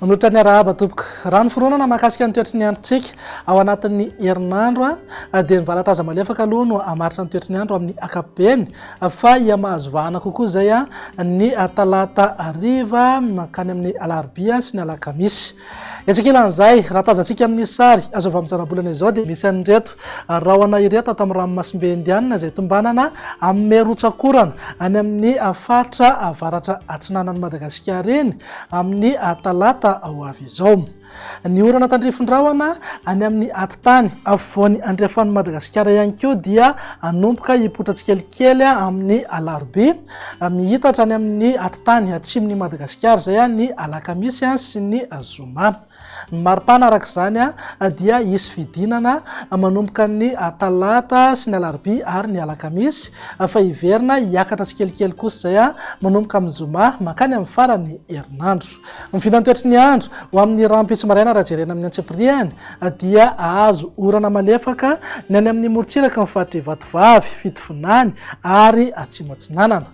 Manotra ny arahaba tompoko. Raha ny fironana mahakasika ny toetry ny androntsika ao anatin'ny herinandro dia ny valatra aza malefaka aloha no hamaritra ny toetry ny andro amin'ny akapobeny fa hihamahazo vahana kokoa izay ny talata hariva mankany amin'ny alarobia sy ny alakamisy. Etsy ankilan'izay, raha tazantsika amin'ny sary azo avy amin'ny zanabolana izao dia misy an'ireto rahona ireto ato amin'ny ranomasimbe Indianina izay tombanana amin'ny rotsak'orana any amin'ny faritra avaratra atsinanan'i Madagasikara iny amin'ny talata ho avy izao. Ny orana tandrifin-drahona any amin'ny Tany afovoany andrefan'i Madagasikara ihany koa dia hanomboka hipoitra tsikelikely amin'ny alarobia, mihitatra any amin'ny atitany atsimon'i Madagasikara izay ny alakamisy sy ny zoma. Ny maripana araka izany dia hisy fidinana manomboka ny talata sy ny alarobia ary ny alakamisy fa hiverina hiakatra tsikelikely kosa izay manomboka amin'ny zoma mankany amin'ny faran'ny herinandro. Ny vinantoetry ny andro ho amin'ny rahampitso maraina raha jerena amin'ny antsipirihany dia hahazo orana malefaka ny any amin'ny morontsiraky ny faritr'i Ivatovavy, Fitovinany ary Atsimo Atsinanana.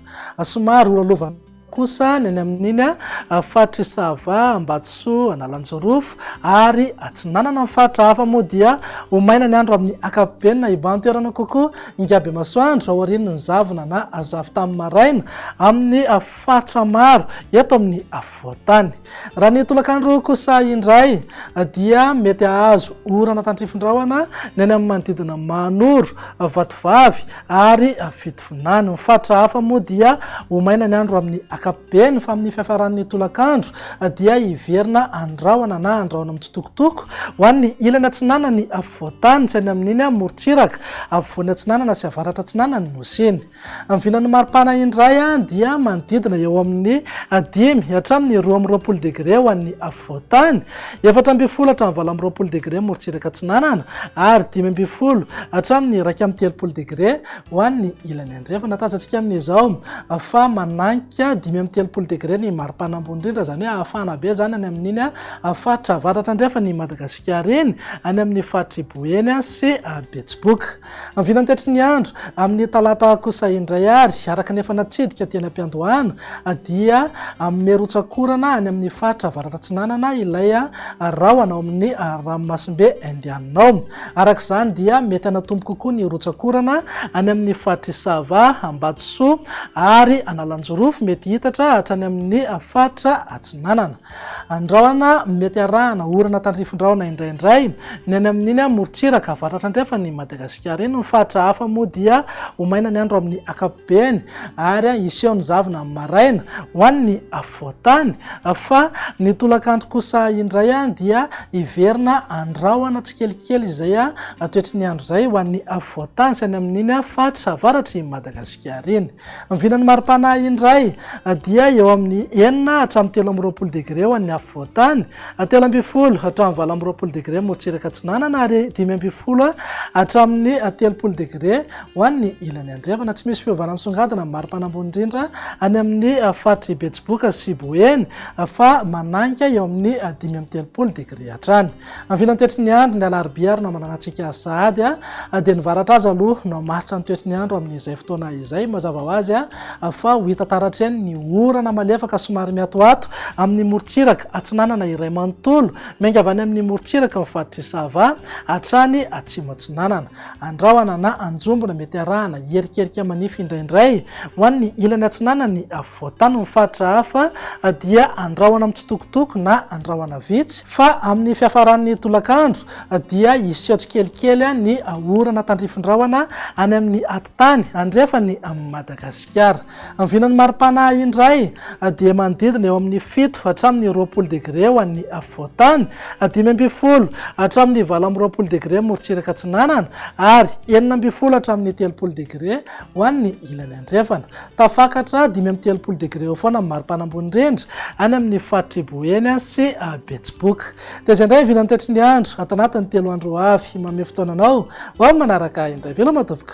Somary horalovana kosa ny any amin'iny faritr'i Sava, Ambatosoa, Analanjirofo ary Atsinanana. Ny faritra hafa moa dia ho maina ny andro amin'ny ankapobeny na hibahan-toerana kokoa Ingabemasoandro aorian'ny zavona na zavon-tany maraina amin'ny faritra maro eto amin'ny voatany. Raha ny tolakandro kosa indray dia mety hahazo orana tandrifin-drahona ny any amin'ny manodidina Mahanoro, Vatovavy ary Fitovinany. Ny faritra hafa moa dia ho maina ny andro amin'ny ankapobeny fa amin'ny fiafaran'ny tolakandro dia hiverina andrahona na andrahona mitsitokotoko ho an'ny ilany atsinanan'ny voatany sy any amin'iny morontsiraka afovoany atsinanana sy avaratra atsinanan'ny Nosy iny. Ny vinan'ny maripana indray dia manodidina eo amin'ny dimy hatramin'ny roa amby roapolo degre ho an'ny afovoan-tany, efatra ambin'ny folo hatramin'ny valo amby roapolo degre morontsiraka atsinanana ary dimy ambin'ny folo hatramin'ny iraika amby telopolo degre ho an'ny ilany andrefana. Tazantsika amin'izao fa mananka dimy amby telopolo degre ny maripana ambony indrindra, izany hoe hafana be izany any amin'iny faritra avaratra andrefan'i Madagasikara iny, any amin'ny faritr'i Boeny sy Betsiboka. Ny vinantetry ny andro amin'ny talata kosa indray ary, araka ny efa natsidika teny am-piandohana, dia mirotsak'orana any amin'ny faritra avaratra-atsinanana ilay rahona ao amin'ny ranomasimbe Indianina ao. Araka izany dia mety hanatombo kokoa ny rotsak'orana any amin'ny faritr'i Sava, Ambatosoa ary Analanjirofo, mety hitatra hatrany amin'ny faritra atsinanana. Andrahona, Mety arahana orana tandrifindrahona indraindray ny any amin'iny amorontsiraka avaratra andrefan' i Madagasikara iny. Ny faritra hafa moa dia ho maina ny andro amin'ny ankapobeny ary hiseho ny zavona amin'ny maraina ho an'ny afovoan-tany fa ny tolakandro kosa indray dia hiverina handrahona tsikelikely izay toetry ny andro izay ho an'ny afovoan-tany sy any amin'iny faritra avaratr'i Madagasikara iny. Ny vinan'ny mari-panahy indray dia eo amin'ny enina hatramin'ny telo amby roapolo degre ho an'ny afovoan-tany, telo ambin'ny folo hatramin'ny valo amby roapolo degre morotsiraka atsinanana ary dimy ambin'ny folo hatramin'ny telopolo degre ho an'ny ilany andrefana. Tsy misy fiovana misongadina amin'ny mari-pana ambony indrindra any amin'ny faritr'i Betsiboka sy Boeny fa mananka eo amin'ny dimy amby telopolo degre hatrany. Vinany toetry ny andro ny alarobia ary namanana antsika azy sahady dia ny varatra aza aloha no hamaritra ny toetry ny andro amin'izay fotoana izay. Mazava ho azy fa ho hita taratra eny ny orana malefaka somary miatoato amin'ny morontsiraka atsinanana iray manontolo miainga avy any amin'ny morontsiraky ny faritr'i Sava hatrany atsimo-atsinanana. Andrahona na anjombona mety arahana hierikerika manify indraindray ho an'ny ilany atsinanan'ny Vao tany ny faritra hafa dia andrahona mitsitokotoko na andrahona vitsy fa amin'ny fiafaran'ny tolakandro dia hiseho tsikelikely ny orana tandrifin-drahona any amin'ny atitany andrefany amin'i Madagasikara. Ny vinan'ny maripana indray dia manodidina eo amin'ny fito hatramin'ny roapolo degre ho an'ny afovoantany, dimy ambin'ny folo hatramin'ny valo amby roapolo degre morontsiraka atsinanana ary enina ambin'ny folo hatramin'ny telopolo degre ho an'ny ilany andrefana. Tafakatra dimy amby telopolo degre eo foana ny maripana ambony indrindra any amin'ny faritr'i Boeny sy Betsiboka. Dia izay indray vina ny toetry ny andro ato anatin'ny telo andro ho avy. Manome fotoana anao ho amin'ny manaraka indray. Veloma tompoko!